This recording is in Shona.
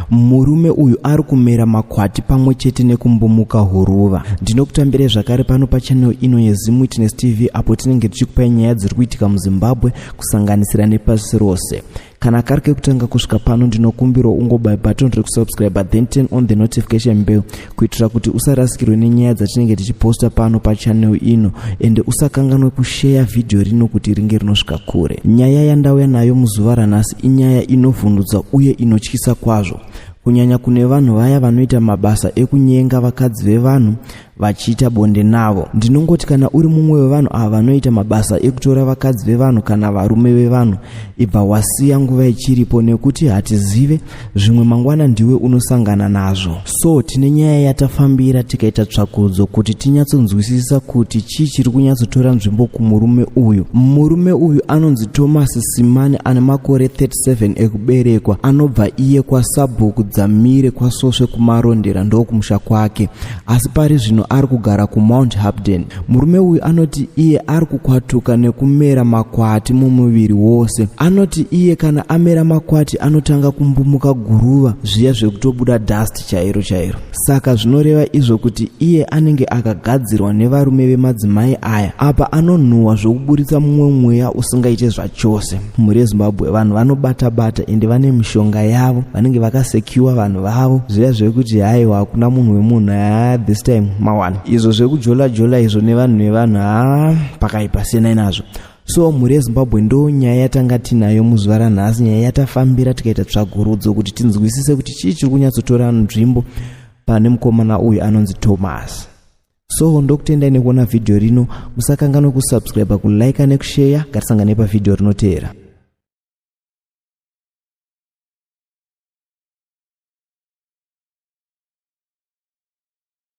murume uyu ari kumera makwati pamwe chete nekumbomuka huruva ndinokutambire zvakare pano pachanel ino yezimwitness tv apo tinenge tichikupai nyaya dziri kuitika muzimbabwe kusanganisira nepasi rose kana kari kekutanga kusvika pano ndinokumbirawo ungobai button rekusubscribe then turn on the notification bell kuitira kuti usarasikirwe nenyaya dzatinenge tichiposta pano pachanel ino ende usakanganwe kusheya vhidhiyo rino kuti ringe rinosvika kure nyaya yandauya nayo muzuva ranhasi inyaya inovhundutsa uye inotyisa kwazvo kunyanya kune vanhu vaya vanoita mabasa ekunyenga vakadzi vevanhu vachiita bonde navo ndinongoti kana uri mumwe wevanhu ava vanoita mabasa ekutora vakadzi vevanhu kana varume vevanhu ibva wasiya nguva ichiripo nekuti hatizive zvimwe mangwana ndiwe unosangana nazvo so tine nyaya yatafambira tikaita tsvakudzo kuti tinyatsonzwisisa kuti chii chiri kunyatsotora nzvimbo kumurume uyu murume uyu anonzi thomas simani ane makore 37 ekuberekwa anobva iye kwasabhuku dzamire kwasvosve kumarondera ndokumusha kwake asi pari zvino ari kugara kumount hapden murume uyu anoti iye ari kukwatuka nekumera makwati mumuviri wose anoti iye kana amera makwati anotanga kumbumuka guruva zviya zvekutobuda dust chairo chairo saka zvinoreva izvo kuti iye anenge akagadzirwa nevarume vemadzimai aya apa anonhuhwa zvokuburitsa mumwe mweya usingaite zvachose mhuri yezimbabwe vanhu vanobata bata ende vane mishonga yavo vanenge vakasecure vanhu vavo zviya zvekuti haiwa hakuna munhu wemunhu haa this time mawana izvo zvekujola jola izvo nevanhu nevanhu haa pakaipa siyanai nazvo so mhuri yezimbabwe ndo nyaya yatanga tinayo muzuva ranhasi nyaya yatafambira tikaita tsvagurudzo kuti tinzwisise kuti chii chiri kunyatsotora nzvimbo pane mukomana uyu anonzi thomas so ndokutendai nekuona vhidhiyo rino musakanganwe kusubscribe kulike nekusheya ngatisangane pavhidhiyo rinoteera